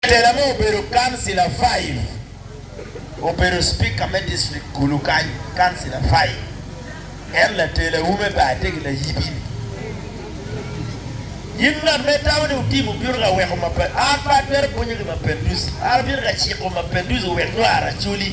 Tela me obedo kancila Five obedo Speaker me district kulu kany, kancila Five en latelawu me baa tye ki layibi ni, In ngat ma itamo ni wutim wubino ka weko mapinduzi, an pe atwero pwonyo ki mapinduzi, an abino ka ciko mapinduzi owek nyo aracoli.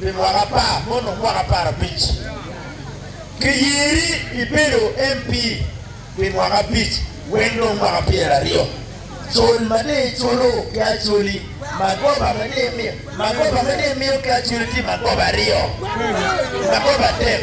Pi mwaka apar ma onongo mwaka apar abic, kiyeri ibedo MP pi mwaka abic wek dong mwaka pyer aryo col ma dong iculo ki acoli magoba ma dong imiyo. Magoba ma dong imiyo ki acoli tye magoba aryo, magoba adek.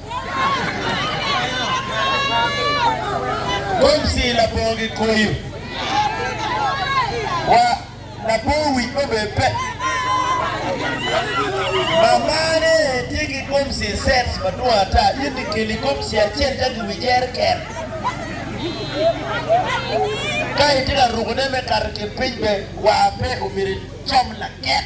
Gomsi labongo gikoyo wa labongo wic mo bene pe. Mamane tye ki gomsi sets madwong ata. In ikeli gomsi acel ca giwi jereken. Ka itye ka rukone me kato ki piny bene wa pe omyero icom laket.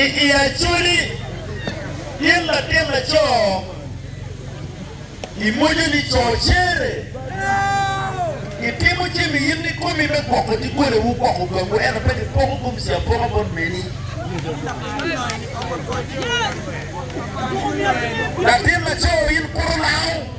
I Acholi, gin latin laco imwoco ni cocere itimo jami in kikomi me gwoko dogole wu gwoko gang wu ento pe kipoko gomsi apoka bot meni. Latin laco in kuru lango.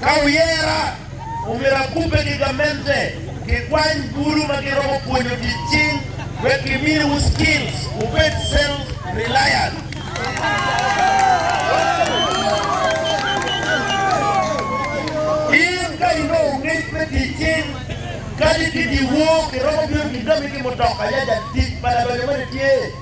Ka wuyera, omyero akubbe ki gamente kikwany bulu ma giromo pwonyo tic cing wek gimiwu skills wubed self reliant. In ka inongo ngec me tic cing kadi ki dyewor, kiromo bino gigami ki mutoka yac atic ma ladonyo mene tye.